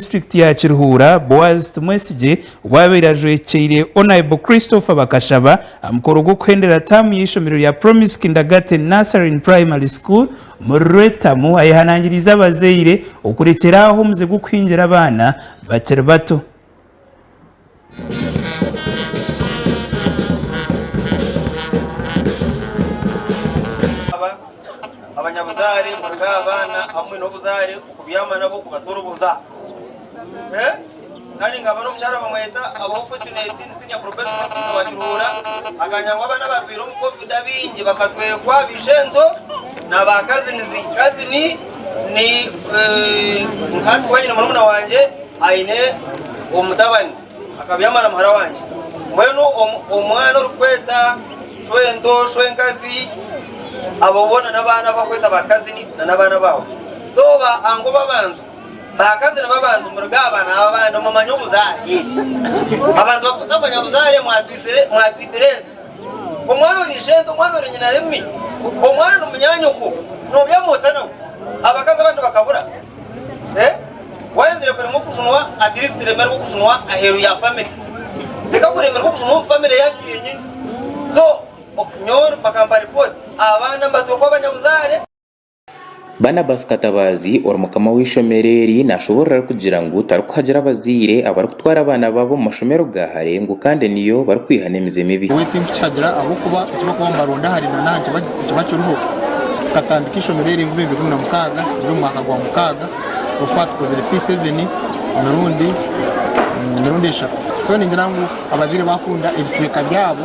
disiturikiti ya Kirihuura, Boaz Tumwesigye obu abaire ajwekeire Onaibo Christopher Bakashaba aha mukoro gw'okuhendera taamu y'eishomero rya Promise Kindergarten Nursery and Primary School omuri Rwetamu ayehanangiriize abazaire okurekyera aho omuze gw'okuhingira abaana bakiri bato. Abanyabuzaare murege aha baana hamwe n'obuzaare okubyama nabo kubatoroboza. Kandi nkaba n'omukyara bamweta Abaho Fortunate ni senior professional officer wa Kiruhura akanya ngu abaana abarwaire omu covid abaingi bakatwekwa ba ishento na ba kazinizi, kazini. Ni nka hati kuba nyine murumuna wangye aine omutabani akabyama na muhara wangye, mbwenu omwana orikweta shwento, shwenkazi, abo boona n'abaana abu bakweta ba kazini na n'abaana baawe. So ba anko b'abantu, ba kazini b'abantu muruga aha baana b'abandi mumanye obuzaare. Abantu bakutamanya buzaare mwatwitire ensi. Omwana ori ishente, omwana ori nyinaremi, omwana ni munyanyoko, nobyama ota nawe? Abakazi abandi bakabura? Eh? Wayenzire kuremwa okujunwa, at least remerwa okujunwa aheru ya family. Leka kuremerwa okujunwa omu family yanyu yenyini. So, nyowe bakampa report, abaana mbatookwa abanyabuzaare. Barnabas Katabaazi ori mukama w'eishomero eri nashoboorora arikugira ngu tarikuhagira abazaire abarikutwara abaana baabo omu mashomero ga hare ngu kandi niyo barikwiha n'emize mibi. Nyowe tinkukihagira ahabw'okuba eki barikuba nibaronda hare na n'aha nikiba kiriho. Tukatandika eishomero eri ngu bibiri na mukaaga turi omu mwaka gwa mukaaga so far tukozire P7 emirundi emirundi eshatu so ningira ngu abazaire bakunda ebicweka byabo.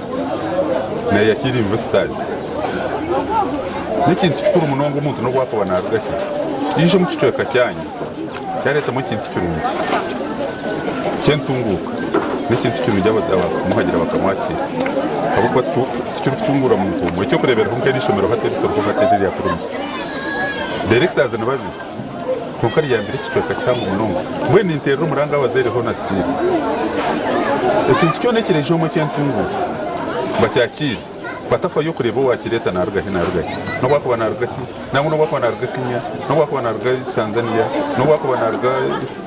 Naya Kira Investors n'ekintu kikuru munonga omuntu n'obu akaba naaruga ki yaija omu kicweka kyanyu yaareetamu ekintu kirungi ky'entunguuka n'ekintu kirungi abaakumuhagira bakamuha ki ahabw'okuba tikirikutunguura muntu omwe. Eky'okureeberaho nk'eri eishomero hati eri turiho hati eri erya Kurumisa, directors ni babiri. Kwonka ryabire ekicweka kihango munonga, mbwenu ninterera omuranga abazaire hoona still. Ekintu kyona ekireija omwe ekyentunguuka bakyakiire batafayo kureeba owakireeta naruga hi naruga hi, nobu akuba naruga ki, nangwa nobu akuba naruga Kenya, nobu akuba naruga Tanzania, nobu akuba naruga.